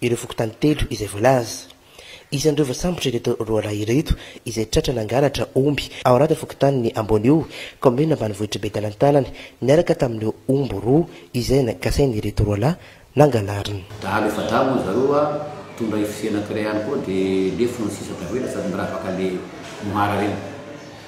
ireo fokontany telo izay voalaza. Isan'ireo voasambotra ireto roalahy ireto izay tratra nangalatra omby ao anatin'ny fokontanin'i Ambonio, kaominina ambanivohitr'i Betalantalana, niaraka tamin'ireo omby roa izay nagasain'ireto roalahy nangalariny. Dahalo efa dahy moa zareo a, mitondra FC anankiray ihany koa dia lefona ny sisa tavela sady miravaka le moara reny.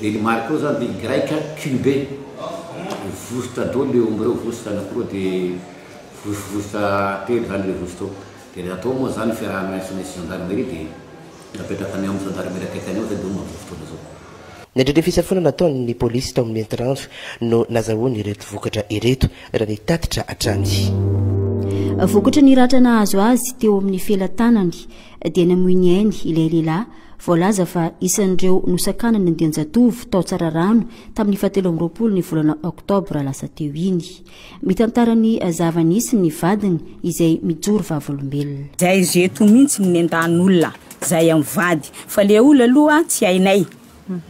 Dia ny Marc io zany dia Greka Kibe, vosotra daholo io omby reo, vosotra anakiroa dia vosovosotra telo zany le vosotra eo, dia raha atao moa zany fiaraha-miasa misy gendarmerie dia napetraka any amin'ny gendarmerie akaiky any ao zay dia eo no mandoa fotoana zao. Nandritra ny fisafoana nataon'ny polisy tao amin'ny Antirandro no nazahoany ireto vokatra ireto raha ny tatitra hatrany. Vokatry ny ratra nahazo azy teo amin'ny felatanany. dia namoy ny ainy ilay lehilahy voalaza fa isan'ireo nosakanana andian-jatovo tao Tsararano tamin'ny fahatelo amby roapolo ny volana oktobra lasa teo iny. Mitantara ny zava-nisy ny vadiny izay mijoro vavolombelona. Zay izy eto mintsy no nendahan'olona zay am vady fa le olona aloha tsy hainay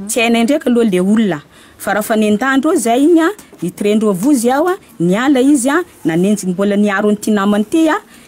tsy hainay ndraika aloha le olona fa raha fa nendahandreo zay iny a nitrendreo vozy aho a niala izy a nanenjiny mbola niaro an'ity namany ity a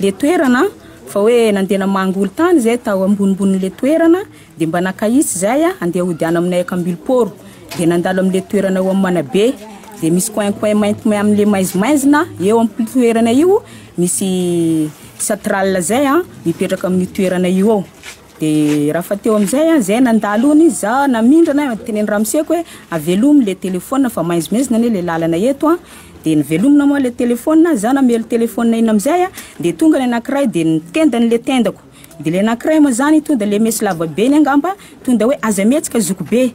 le toerana fa hoe nandeha namangy olon-tany zay tao ambonimbonin'le toerana dia mba nankahitsy izay andeha hody any aminay Akambiloporo dia nandalo amin'le toerana eo amin'ny Manabe dia misy coin coin mainty may amin'le maizimaizina eo amin'ny toerana io misy satral zay mipetraka amin'io toerana io eo. Dia rafa teo amin'izay an, izay nandalo ony izy, za namindrana an, teneno ramoseko hoe avelomy le telephone fa maizimezina anie le lalana eto an, dia novelomina moa le telephone, za namely telephone iny amin'izay an, dia tonga le anakiray dia nitenda an'le tendako, dia le anakiray moa zany tonda le mesy lavabe iny angamba, tonda hoe aza mihetsika zokibe,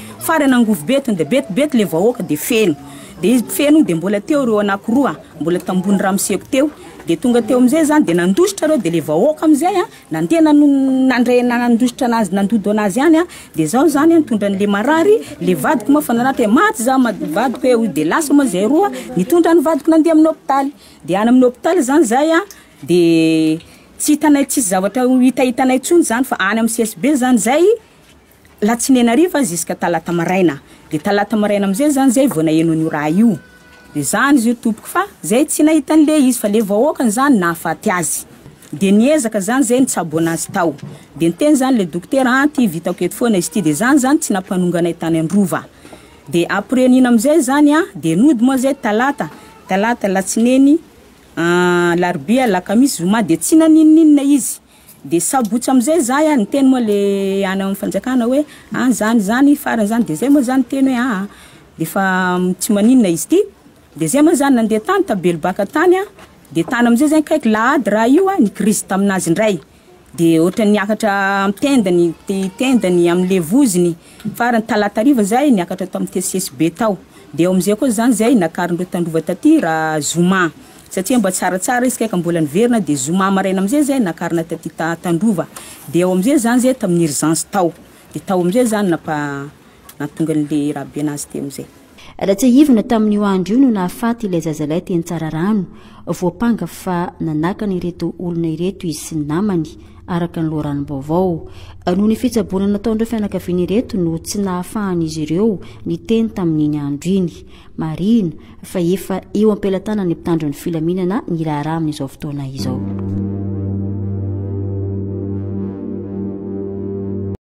Farany angovo be tonde bet bet le vahoaka de feno de izy mpifeno de mbola teo reo anako roa mbola tambony ramoseko teo de tonga teo amizay zany de nandositra reo de le vahoaka amizay a nandeha nano nandray nandositra anazy nandodo anazy any a de zao zany nitondra anle marary le vadiko moa fa nanatra hoe maty za ma- vadiko hoe hoy de lasa moa zay roa nitondra any vadiko nandeha aminy hopitaly de any aminy hopitaly zany zay a de tsy hitanay tsisy zavatra ho hitahitanay tsony zany fa any aminy CSB zany zay Latsinainy hariva ziska talata maraina de talata maraina amzay zany zay vao naheno an'io raha io de zany izy io tompoko fa zay tsy nahita an'le izy fa le vahoakany zany nahafaty azy de niezaka zany zay nitsabo anazy tao de niteny zany le dokotera an ty vitako eto foana izy ty de zany zany tsy nampanonga anay tany androva de après nino amzay zany an de nody moa zay talata talata latsineny an larobia lakamisy zoma de tsy naninoninona izy. Dia sabotsy amizay zah a, niteny moa le any am fanjakana hoe an zany zany farany zany de zay moa zah niteny hoe aa defa tsy maninona izy ty de zay moa zah nandeha tany tabelobaka tany a de tany amizay zay kaiky la ady raha io a nikirizy taminazy ndray de otrany niakatra am tendany ny tendany amle vozony Farany talata hariva izay niakatra tao amin'ny tesitesy be tao dia ao amin'izay koa izany izay nakarin'ireo tandrova taty raha zoma satria mba tsaratsara izy kay ka mbola niverina dia zoma maraina amin'izay izay nakarina taty tandrova dia ao amin'izay izany izay tamin'ny urgence tao dia tao amin'izay izany nampa nahatonga an'ilay raha be an'azy teo amin'izay. Ratsiahivina tamin'io andro io no nahafaty ilay zazalahy teny Tsararano, voampanga fa nanakana ireto olona ireto izy sy ny namany, araka ny loharanom-baovao. Noho ny fitsaboana nataon'ireo fianakaviana ireto no tsy nahafahan'izy ireo niteny tamin'iny andro iny. Marihina fa efa eo am-pelatanan'ny mpitandro ny filaminana ny raharaha amin'izao fotoana izao.